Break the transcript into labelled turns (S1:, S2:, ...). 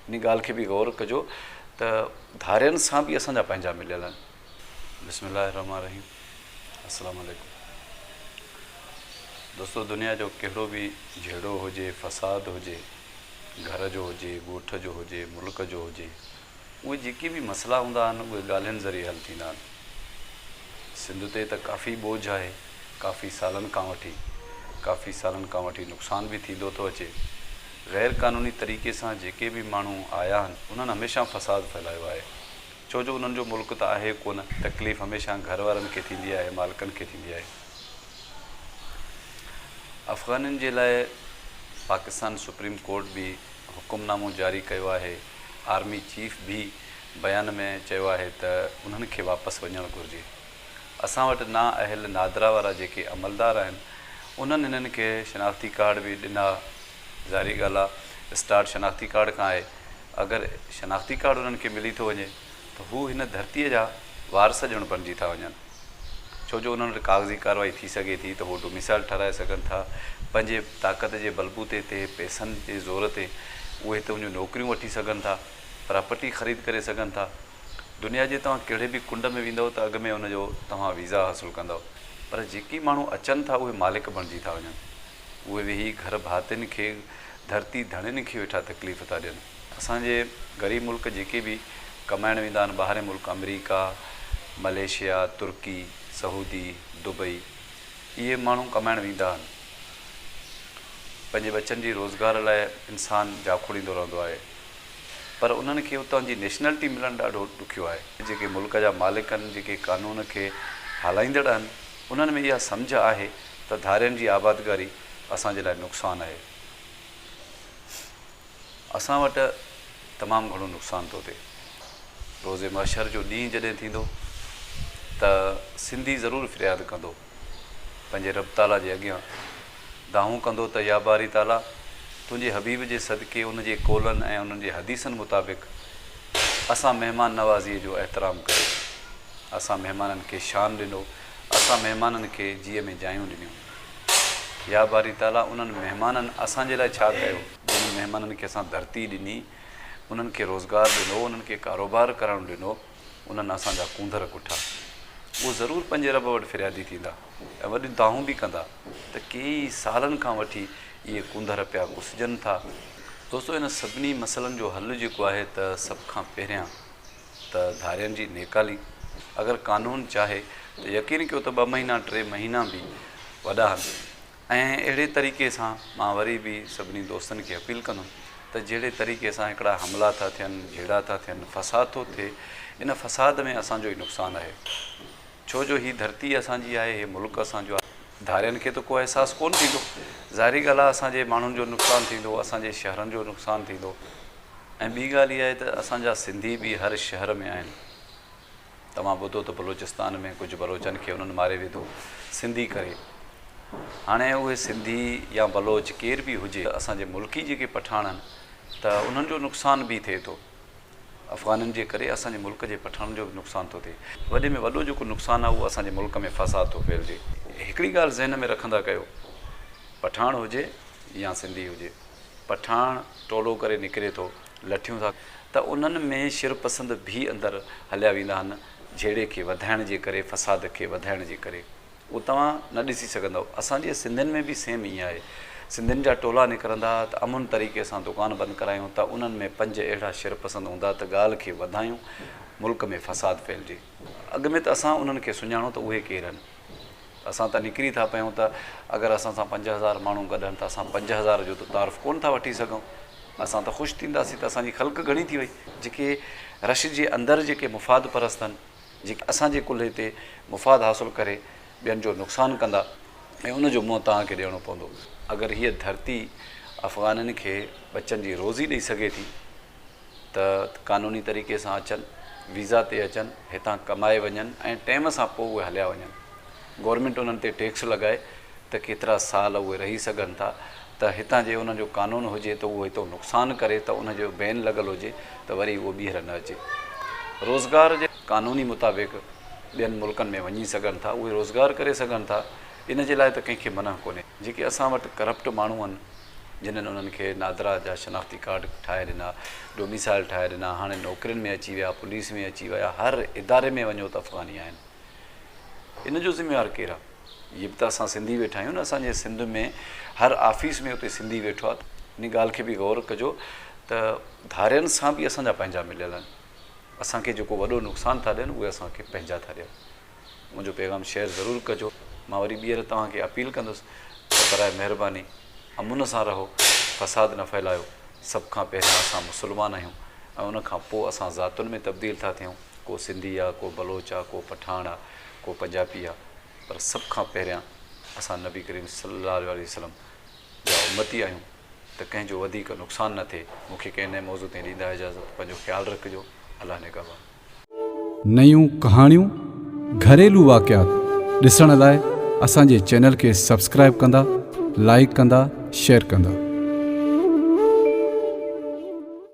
S1: ان ڳالهه کي به غور ڪجو ته ڌارين سان به اسان جا پنهنجا مليل آهن. بسم الله الرحمٰن الرحيم السلام عليڪم دوستو دنيا جو ڪهڙو به جهيڙو هجي فساد هجي گهر جو هجي ڳوٺ جو هجي ملڪ جو هجي اهي جيڪي به مسئلا هوندا آهن اهي ڳالهين ذريعي حل ٿيندا آهن سنڌ تي ته ڪافي ٻوجهه آهي ڪافي سالن کان وٺي ڪافي سالن کان وٺي نقصان به ٿيندو ٿو اچي غير قانوني طريقي سان جيڪي به ماڻهو آيا آهن انهن هميشه فساد ڦهلايو آهي ڇو جو انهن جو ملڪ ته آهي ڪونه تڪليف هميشه گهر وارن کي ٿيندي آهي مالڪن کي ٿيندي آهي افغانين جي لاء پاڪستان سپريم ڪورٽ به حڪم نامو جاري ڪيو آهي آرمي چيف به بيان ۾ چيو آهي ته انهن کي واپس وڃڻ گهرجي. اسان وٽ نا اهل نادرا وارا جيڪي عملدار آهن انهن هنن کي شناختي ڪارڊ به ڏنا ظاهري ڳالهه آ اسٽارٽ شناختي ڪارڊ کان آهي اگر شناختي ڪارڊ انهن کي ملي ٿو وڃي ته هو هن ڌرتي جا وارث ڄڻ بڻجي ٿا وڃن ڇو جو انهن وٽ ڪاغذي ڪاروائي ٿي سگهي ٿي ته هو ڊوميسائل ٺهرائي سگهن ٿا پنهنجي طاقت جي بلبوتي تي پئسن جي زور تي اهي تنهنجون نوڪريون وٺي سگهن ٿا پراپرٽي خريد ڪري سگهن ٿا. دنيا جي توهان ڪهڙي به ڪنڊ ۾ ويندؤ ته اڳ ۾ ان جو توهان ويزا حاصل ڪندؤ پر جيڪي ماڻهو اچن ٿا اهي مالڪ بڻجي ٿا وڃن اهي ويهي گهر ڀاتين کي ڌرتي ڌڻين کي ويٺا تڪليف ٿا ڏين اسان جي غريب ملڪ جيڪي به ڪمائڻ ويندا آهن ٻاهرين ملڪ آمريڪا مليشيا ترڪي سعودي دبئي اهي ماڻهو ڪمائڻ ويندا آهن پنهنجي ٻچن جي روزگار لاء انسان جاکوڙيندو رهندو آهي. پر انهن کي اتان جي نيشنلٽي ملڻ ڏاڍو ڏکيو آهي. جيڪي ملڪ جا مالڪ آهن، جيڪي قانون کي هلائيندڙ آهن، انهن ۾ اها سمجهه آهي ته ڌارين جي آبادگاري اسان جي لاء نقصان آهي. اسان وٽ تمام گهڻو نقصان ٿو ٿئي. روز محشر جو ڏينهن جڏهن ٿيندو ته سنڌي ضرور فرياد ڪندو. پنهنجي رب تعاليٰ جي اڳيان دانهون ڪندو ته يا باري تعاليٰ! تنهنجي حبيب جي صدقي ان جي قولن ۽ انهن جي حديثن مطابق اسان مهمان نوازيء جو احترام ڪيو، اسان مهمانن کي شان ڏنو، اسان مهمانن کي جيء ۾ جايون ڏنيون. يا باري تعاليٰ! انهن مهمانن اسان جي لاء ڇا ڪيو؟ جنهن مهمانن کي اسان ڌرتي ڏني، انهن کي روزگار ڏنو، انهن کي ڪاروبار ڪرڻ ڏنو، انهن اسان جا ڪونڌر ڪٺا. اهو ضرور پنهنجي رب وٽ فريادي ٿيندا ۽ وڏيون دانهون به ڪندا ته ڪيئي سالن کان وٺي اهي ڪونڌر پيا ڪسجن ٿا. دوستو انهن سڀني مسئلن جو حل جيڪو آهي ته سڀ کان پهريان ته ڌارين جي نيڪالي. اگر قانون چاهي ته يقين ڪيو ته ٻه مهينا ٽي مهينا به وڏا هن. ۽ اهڙي طريقي سان مان وري به سڀني دوستن کي اپيل ڪندم ته جهڙي طريقي سان هڪڙا حملا ٿا ٿين، جهيڙا ٿا ٿين، فساد ٿو ٿئي، ان فساد ۾ اسان جو ئي نقصان آهي، ڇو جو هي ڌرتي اسان جي آهي، هي ملڪ اسان جو آهي. ڌارين کي ته ڪو احساس ڪونه ٿيندو، ظاهري ڳالهه آهي اسان جي ماڻهن جو نقصان ٿيندو، اسان جي شهرن جو نقصان ٿيندو ۽ ٻي ڳالهه اها آهي ته اسان جا سنڌي به هر شهر ۾ آهن، توهان ٻڌو ته بلوچستان ۾ ڪجهه بلوچن کي انهن ماري وڌو سنڌي ڪري هاڻي اهي سنڌي يا بلوچ ڪير به هجي اسان جي ملڪي جيڪي پٺاڻن ته انهن جو نقصان به ٿئي ٿو افغانن جي ڪري اسان جي ملڪ جي پٺاڻن جو به نقصان ٿو ٿئي وڏي ۾ وڏو جيڪو نقصان آهي اهو اسان جي ملڪ ۾ فساد ٿو ڦهلجي هڪڙي ڳالهه ذهن ۾ رکندا ڪيو پٺاڻ هجي يا سنڌي هجي پٺاڻ ٽولو ڪري نڪري ٿو لٺيون ٿا ته انهن ۾ شر پسند ڀي اندر هليا ويندا آهن جهيڙي کي وڌائڻ جي ڪري فساد کي وڌائڻ جي ڪري اهو توهان نه ڏسي سگهندؤ اسان جي سنڌين ۾ به سيم ائين آهي سنڌين جا ٽولا نڪرندا ته امن طريقي سان دڪان بند ڪرايون ته انهن ۾ پنج اهڙا شر پسند هوندا ته ڳالهه کي وڌايون ملڪ ۾ فساد ڦهلجي اڳ ۾ ته اسان انهن کي سڃاڻو ته اهي ڪير آهن. اسان ته نڪري ٿا پيون ته اگر اسان سان پنج هزار ماڻهو گڏهن ته اسان پنج هزار جو ته تعارف ڪونه ٿا وٺي سگهون. اسان ته خوش ٿينداسين ته اسان جي خلق گهڻي ٿي وئي. جيڪي رش جي اندر جيڪي مفاد پرست هن، جيڪي اسان جي ڪلهي تي مفاد حاصل ڪري ٻين جو نقصان ڪندا ۽ ان جو منهن توهان کي ڏيڻو پوندو. اگر هيء ڌرتي افغانن کي ٻچن جي روزي ڏئي سگهي ٿي. ته قانوني طريقي سان اچن، ويزا تي اچن، هتان ڪمائي وڃن ۽ ٽيم سان پوء اهي هليا وڃن. گورنمينٽ انهن تي ٽيڪس لڳائي ته ڪيترا سال اهي رهي سگهن ٿا ته هتان جي انهن جو قانون هجي ته اهو هتو نقصان ڪري ته ان جو بين لڳل هجي ته وري اهو ٻيهر نه اچي روزگار جي قانوني مطابق ٻين ملڪن ۾ وڃي سگهن ٿا اهي روزگار ڪري سگهن ٿا ان جي لاء ته ڪنهن کي منع ڪونهي. جيڪي اسان وٽ ڪرپٽ ماڻهو آهن. جنھن انھن کي نادرا جا شناختي ڪارڊ ٺاھي ڏنا، ڊوميسائيل ٺاھي ڏنا، ھاڻي نوڪرين ۾ اچي ويا، پوليس ۾ اچي ويا، ھر اداري ۾ وڃو ته افغاني آھن. ان جو ذميوار ڪير آ؟ جي به ته اسان سنڌي ويٺا آھيون نه اسان جي سنڌ ۾ ھر آفيس ۾ اتي سنڌي ويٺو آ ان ڳالھ کي به غور ڪجو ته ڌارين سان به اسان جا پنھنجا مليل آھن اسان کي جيڪو وڏو نقصان ٿا ڏين اھي اسان کي پنھنجا ٿا ڏين. منهنجو پيغام شيئر ضرور ڪجو مان وري ٻيهر توهان کي اپيل ڪندس ته براء مهرباني امن سان رهو فساد نه ڦهلايو سڀ کان پهريان اسان مسلمان آهيون ۽ ان کان پوء اسان ذاتن ۾ تبديل ٿا ٿيون ڪو سنڌي آ ڪو بلوچ آ ڪو پٺاڻ آ ڪو پنجابي آ پر سڀ کان پهريان اسان نبي ڪريم صلي الله عليه وسلم جا امتي آهيون ته ڪنهن جو وڌيڪ نقصان نه ٿئي مون کي ڪنهن نئين موضوع تائين ڏيندا اجازت پنهنجو خيال رکجو الله نگهبان نيون ڪهاڻيون،
S2: گهريلو واقعات ڏسڻ لاء اسان جي چينل کي سبسڪرائيب ڪندا، لائيڪ ڪندا، شيئر ڪندا.